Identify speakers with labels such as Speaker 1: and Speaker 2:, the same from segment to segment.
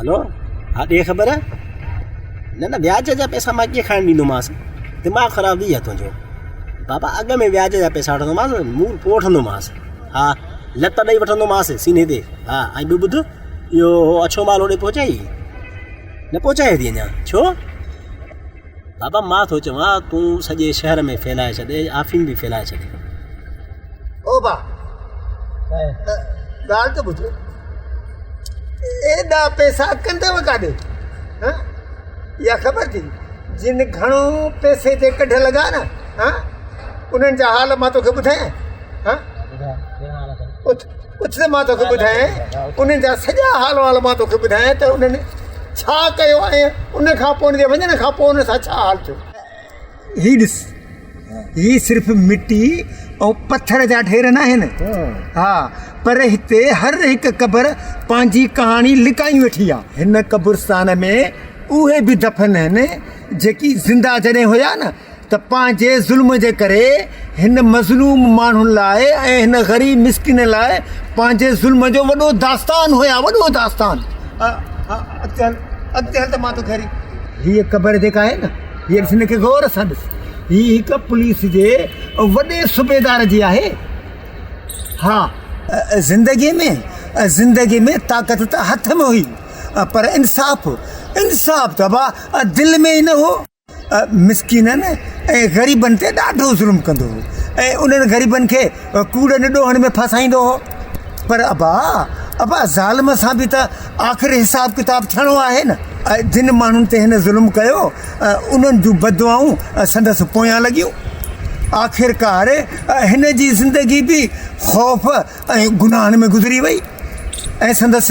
Speaker 1: هلو ها ڏي خبر نه نه وياج جا پيسا مان ڪيئن کڻي ڏيندومانس دماغ خراب ٿي ويو آهي تنهنجو بابا اڳ ۾ وياج جا پيسا وٺندومانس منهن پوء وٺندومانس ها لت ڏئي وٺندومانس سيني تي ها ۽ ٻيو ٻڌ اهو اڇو مال هوڏي پهچائي نه پهچائي اٿي اڃا ڇو بابا مان ٿو چوان تون سڄي شهر ۾ ڦيلائي ڇڏ اي آفيم به ڦيلائي ڇڏ.
Speaker 2: او با ڳالهه ته ٻڌ ايڏا پئسا ڪنديو ڪاڏي ها اها خبر ٿي جن گهڻو پئسي تي ڪڍ لڳا نه ها انهن جا حال مان توکي ٻڌايان ها اٿ. اچ ته مان توکي ٻڌايان انهن جا سڄا حال وحال مان توکي ٻڌايان ته انهن ڇا ڪيو ۽ ان کان پوء ان جي وڃڻ کان پوء انهن سان ڇا حال ٿيو. هي ڏس هي صرف مٽي ۽ پٿر جا ڍير ناهن ها پر هتي هر هڪ قبر پنهنجي ڪهاڻي لڪائي ويٺي آ. هن قبرستان ۾ اهي به دفن آهن جيڪي زنده جڏهن هيا نه ته پنهنجي ظلم جي ڪري هن مظلوم ماڻهن لاء ۽ هن غريب مسڪين لاء پنهنجي ظلم جو وڏو داستان هيا وڏو داستان هيء قبر جيڪا آهي نه هيء ڏس هن کي غور سان ڏس هي هڪ پوليس جي وڏي صوبيدار جي آهي ها زندگي ۾ زندگي ۾ طاقت ته هٿ ۾ هئي پر انصاف انصاف ته ابا دل ۾ ئي نه هو مسڪينن ۽ غريبن تي ڏاڍو ظلم ڪندو هو ۽ انهن غريبن کي ڪوڙن ڏوهن ۾ ڦاسائيندو هو پر ابا ابا ظالم سان به ته آخر حساب ڪتاب ٿيڻو آهي نه جن ماڻهن تي هن ظلم ڪيو انهن جون بددعائون سندس پويان لڳيون آخرڪار هن جي زندگي به خوف ۽ گناهن ۾ گذري وئي ۽ سندس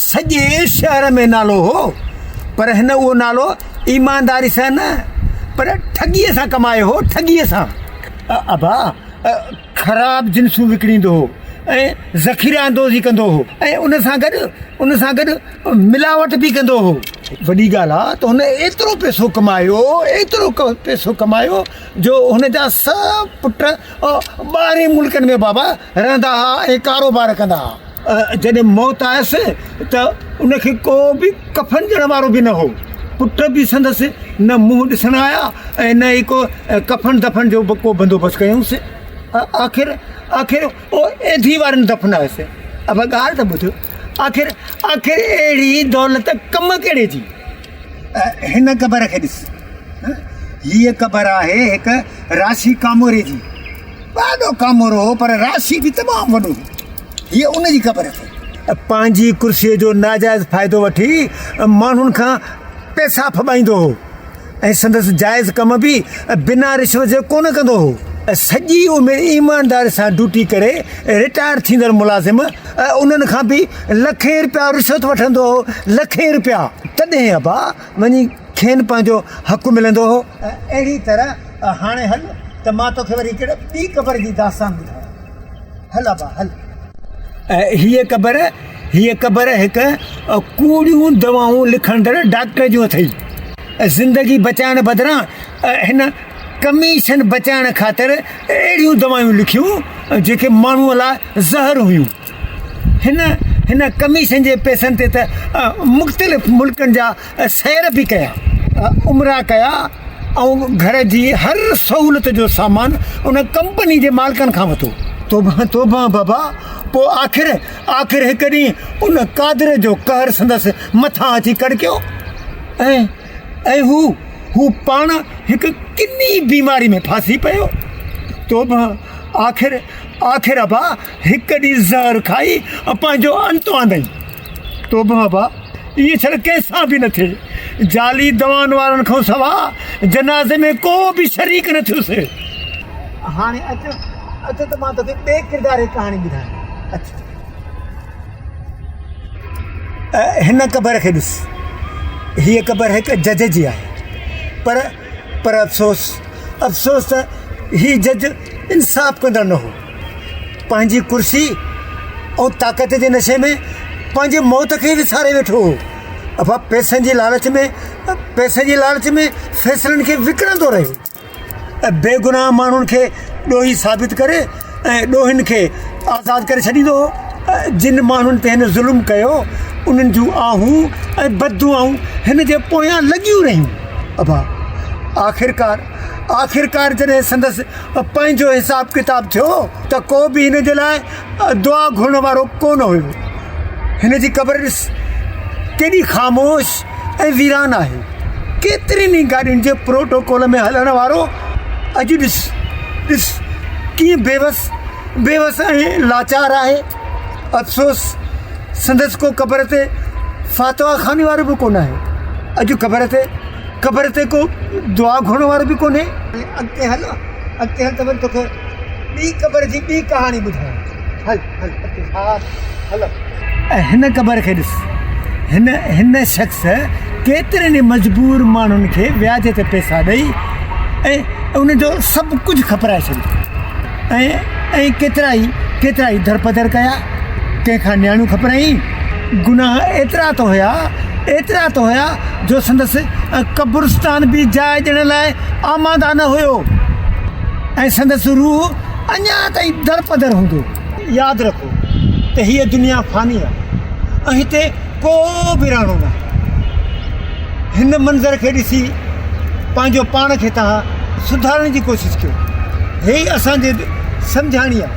Speaker 2: سڄي شهر ۾ نالو هو، پر هن اهو نالو ايمانداري سان نه پر ٺڳيء سان ڪمايو هو، ٺڳيء سان. ابا خراب جنسون وڪڻيندو هو ۽ ذخيره اندوزي ڪندو هو ۽ ان سان گڏ ان سان گڏ ملاوٽ به ڪندو هو. وڏي ڳالهه آ ته هن ايترو پئسو ڪمايو، ايترو پئسو ڪمايو جو هن جا سڀ پٽ ٻاهرين ملڪن ۾ بابا رهندا ها ۽ ڪاروبار ڪندا ها. جڏهن موت آيس ته ان کي ڪو به ڪفن ڏيڻ وارو به نه هو. پٽ به سندس نه منهن ڏسڻ آيا ۽ نه ئي ڪو ڪفن دفن جو به ڪو بندوبست ڪيائونس. آخر آخر او ايڌي وارن دفنايس. ابا ڳالهه ته ٻڌ، آخر آخر اهڙي دولت ڪم ڪهڙي جي؟ هن قبر کي ڏس. هيء قبر آهي هڪ راشي ڪاموري جي. ڏاڍو ڪامورو هو، پر راشي به تمام وڏو هو. هيء ان جي قبر آهي. پنهنجي ڪرسيء جو ناجائز فائدو وٺي ماڻهن کان پئسا ڦٻائيندو هو ۽ سندس جائز ڪم به بنا رشوت جي ڪونه ڪندو هو. سڄي عمر ايمانداري سان ڊيوٽي ڪري رٽائر ٿيندڙ ملازم، ۽ انهن کان به لکين رپيا رشوت وٺندو هو لکين رپيا تڏهن ابا وڃي کين پنهنجو حق ملندو هو. اهڙي طرح هاڻي هل ته مان توکي وري هڪڙي ٻي قبر جي داستان ٻڌايان هل ابا هل. هيء قبر هيء قبر هڪ ڪوڙيون دوائون لکندڙ ڊاڪٽر جون اٿئي زندگي بچائڻ بدران هن. ڪميشن بچائڻ خاطر اهڙيون دوائون لکيون جيڪي ماڻهوء لاء زهر هيون. هن هن ڪميشن جي پئسن تي ته مختلف ملڪن جا سير به ڪيا، عمرا ڪيا ۽ گهر جي هر سهولت جو سامان ان ڪمپني جي مالڪن کان وٺو. توبه توبه بابا! پوء آخر آخر هڪ ڏينهن ان قادر جو قهر سندس مٿان اچي ڪڙڪيو ۽. اي هو، هو پاڻ هڪ ڪني بيماري ۾ ڦاسي پيو، تو به آخر آخر ابا هڪ ڏينهن زهر کائي ۽ پنهنجو انت آندئين. تو به ابا ائين ڇڙ ڪنهن سان به نه ٿئي. جعلي دوائن وارن کان سوا جنازي ۾ ڪو به شريڪ نه ٿيس. هاڻي اچ اچ ته مان توکي ٻئي ڪردار جي ڪهاڻي ٻڌايان. اچ. هن قبر کي ڏس. هيء قبر هڪ جج جي آهي. پر، پر افسوس، افسوس ته هي جج انصاف ڪندڙ نه هو. پنهنجي ڪرسي ۽ طاقت جي نشي ۾ پنهنجي موت کي ئي وساري ويٺو هو. اهو پئسن جي لالچ ۾، پئسن جي لالچ ۾ فيصلن کي وڪڻندو رهيو. ۽ بيگناهه ماڻهن کي ڏوهي ثابت ڪري ۽ ڏوهين کي آزاد ڪري ڇڏيندو هو ۽ جن ماڻهن تي هن ظلم ڪيو انهن جون آهون ۽ بددعائون هن جي پويان لڳيون رهيون ابا آخرڪار آخرڪار جڏهن سندس پنهنجو حساب ڪتاب ٿيو ته ڪو به هن جي لاء دعا گهرڻ وارو ڪونه هيو هن جي قبر ڏس ڪيڏي خاموش ۽ ويران آهي. ڪيترين ئي گاڏين جي پروٽوڪول ۾ هلڻ وارو اڄ ڏس ڏس ڪيئن بيوس بيوس ۽ لاچار آهي. افسوس سندس ڪو قبر تي فاتحا خواني وارو به ڪونه آهي. اڄ قبر تي قبر تي ڪو دعا گهرڻ وارو به ڪونهي. اڳتي هل اڳتي هل ته وري توکي ٻي قبر جي ٻي ڪهاڻي ٻڌايان هل. ۽ هن قبر کي ڏس. هن، هن شخص، ڪيترن ئي مجبور ماڻهن کي وياج تي پئسا ڏئي ۽ انهن جو سڀ ڪجهه کپرائي ڇڏيو ۽ ائين ڪيترائي، ڪيترائي درپدر ڪيا، ڪنهن کان نياڻيون کپرايائين. گناهه ايترا ته هيا، ايترا ته هيا جو سندس قبرستان به جاء ڏيڻ لاء آماده نه هيو ۽ سندس روح، اڃا تائين درپدر هوندو. ياد رکو ته هيء دنيا فاني آهي ۽ هتي ڪو به رهڻو ناهي. هن منظر کي ڏسي پنهنجو پاڻ کي تها سڌارڻ جي ڪوشش ڪيو. هيء اسان جي سمجهاڻي آهي.